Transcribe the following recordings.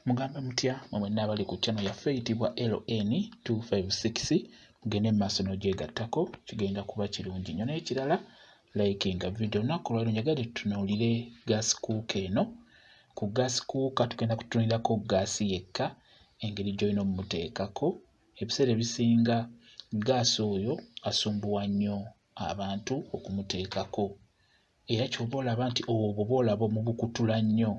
Mugambe mutya mwe mwenna abali ku channel yaffe eyitibwa LN256 mugende mu maaso n'ogyegattako kigenda kuba kirungi nnyo naye kirala like nga video olunaku olwaliro njagala tutunuulire gaasi kuuka eno ku gaasi kuuka tugenda kutunuulirako gaasi yekka engeri gy'olina omuteekako ebiseera ebisinga gaasi oyo asumbuwa nnyo abantu okumuteekako era kyova olaba nti obwo bwolaba omubukutula nnyo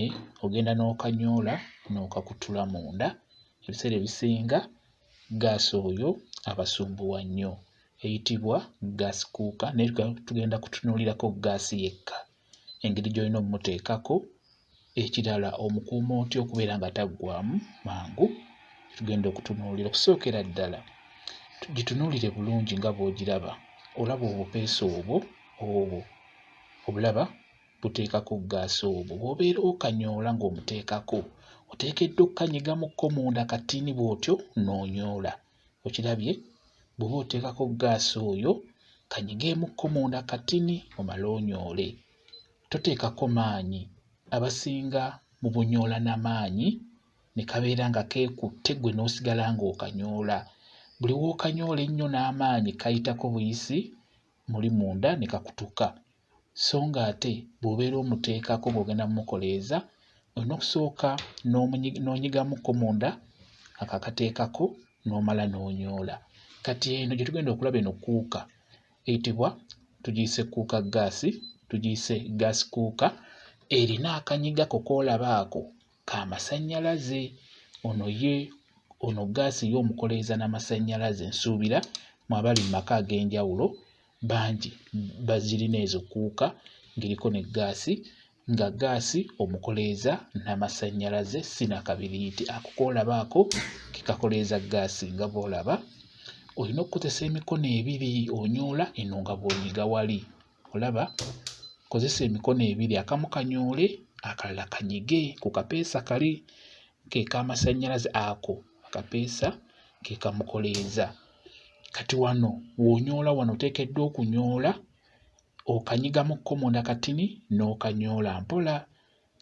eh, ogenda n'okanyoola n'okakutula munda ebiseera ebisinga gaasi oyo abasumbuwa nnyo eyitibwa gaasi kuuka naye tugenda kutunuulirako gaasi yekka engeri gy'olina omuteekako Ekirala omukuuma otya okubeera nga taggwaamu mangu tugenda okutunuulira. Okusookera ddala gitunuulire bulungi nga bw'ogiraba olaba obupeesa obwo obwo obulaba buteekako ggaasi obwo bw'obeera okanyoola ng'omuteekako oteekeddwa okukanyigamukko munda katini bw'otyo n'onyoola okirabye bw'oba oteekako ggaasi oyo kanyigeemukko munda katini omale onyoole toteekako maanyi abasinga mubonyoola na maanyi ne kabeera nga keekutte gwe n'osigala ng'okanyoola buli w'okanyoola ennyo n'amaanyi kayitako buyisi muli munda ne kakutuka so ng'ate bw'obeera omuteekako ng'ogenda mumukoleeza olina okusooka n'onyigamukko munda akakateekako n'omala n'onyoola kati eno gye tugenda okulaba eno kuuka eyitibwa tugiyise kuuka ggaasi tugiyise ggaasi kuuka erina akanyiga ko koolaba ako ka masannyalaze ono ye ono ggaasi ye omukoleeza na masannyalaze nsuubira mu abali mu maka ag'enjawulo bangi bazirina ezo kuuka ng'eriko ne ggaasi nga gaasi omukoleeza n'amasannyalaze si na kabiriiti ako k'olabaako ke kakoleeza gaasi nga bw'olaba olina okukozesa emikono ebiri onyoola eno nga bw'onyiga wali olaba kozesa emikono ebiri akamu kanyoole akalala kanyige ku kapeesa kali ke k'amasannyalaze ako akapeesa ke kamukoleeza kati wano w'onyoola wano oteekeddwa okunyoola okanyigamu ko munda katini n'okanyoola mpola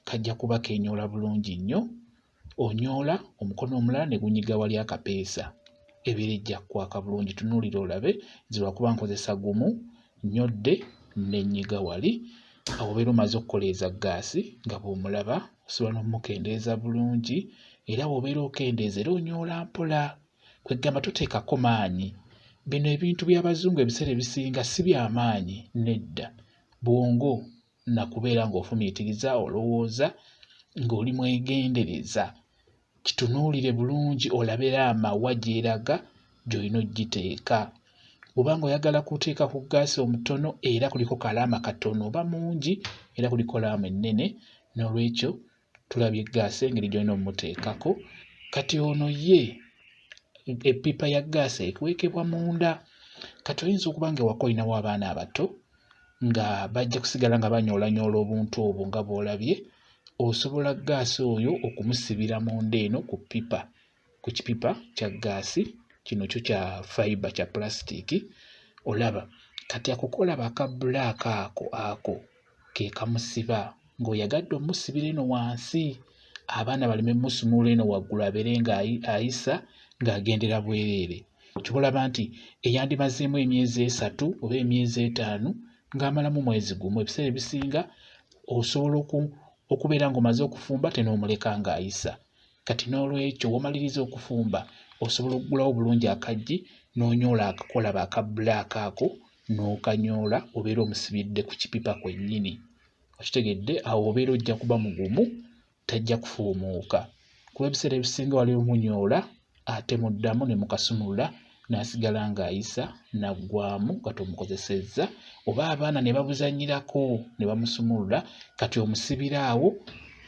kajja kuba kenyoola bulungi nnyo onyoola omukono omulala ne gunyiga wali akapeesa ebeera ejja kwaka bulungi tunuulira olabe nze lwakuba nkozesa gumu nnyodde ne nnyiga wali awo obeera omaze okukoleeza ggaasi nga bw'omulaba osobola n'okumukendeeza bulungi era bw'obeera okendeeza era onyoola mpola kwegamba toteekako maanyi bino ebintu by'abazungu ebiseera ebisinga si by'amaanyi nedda bwongo na kubeera ng'ofumiitiriza olowooza ng'oli mwegendereza kitunuulire bulungi olabe laama wa gy'eraga gy'olina okugiteeka bw'oba ng'oyagala kuteeka ku ggaasi omutono era kuliko kalaama katono oba mungi era kuliko laama ennene n'olwekyo tulabye ggaasi engeri gy'olina omuteekako kati ono ye eppipa ya ggaasi ekwekebwa munda kati oyinza okuba nga ewaka olinawo abaana abato nga bajja kusigala nga banyoolanyoola obuntu obwo nga bw'olabye osobola ggaasi oyo okumusibira munda eno ku ppipa ku kipipa kya ggaasi kino kyo kya fiber kya plastic olaba kati akukola baka black ako ako ke kamusiba ng'oyagadde omusibira eno wansi abaana baleme musumula eno waggulu abeere nga ayisa ng'agendera bwereere kyolaba nti eyandimazeemu emyezi esatu oba emyezi etaano ng'amalamu mwezi gumu ebiseera ebisinga osobola okubeera ng'omaze okufumba tenoomuleka ng'ayisa Kati n'olwekyo womaliriza okufumba osobola okugulawo bulungi akaggi n'onyoola akakolaba aka bbulaaka ako n'okanyoola obeera omusibidde ku kipipa kwennyini. Okitegedde awo obeera ojja kuba mugumu tajja kufuumuuka kuba ebiseera ebisinga wali omunyoola ate muddamu ne mukasumulula n'asigala ng'ayisa n'aggwamu nga tomukozesezza oba abaana ne babuzannyirako ne bamusumulula kati omusibira awo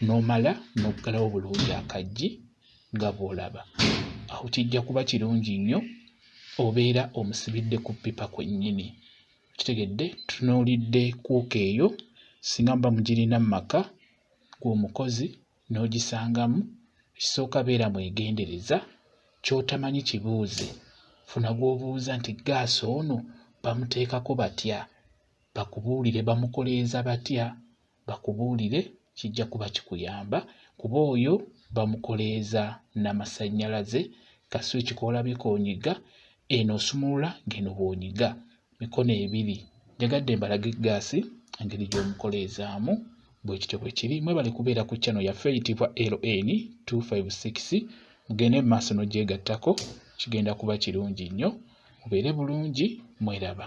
n'omala n'oggalawo bulungi akaggi nga bw'olaba awo kijja kuba kirungi nnyo obeera omusibidde ku ppipa kwennyini kitegedde tunuulidde kuuka eyo singa muba mugirina mu maka g'omukozi n'ogisangamu, ekisooka beera mwegendereza, ky'otamanyi kibuuze. Funa gw'obuuza nti ggaasi ono bamuteekako batya? Bakubuulire bamukoleeza batya? Bakubuulire kijja kuba kikuyamba kuba oyo bamukoleeza na masannyalaze, kaswici k'olabye k'onyiga, eno osumulula ng'eno bw'onyiga. mikono ebiri njagadde mbalage eggaasi engeri gy'omukoleezaamu bwe kityo bwe kiri mwebale kubeera ku channel yaffe eyitibwa ln 256 mugende mu maaso n'ogyegattako kigenda kuba kirungi nnyo mubeere bulungi mweraba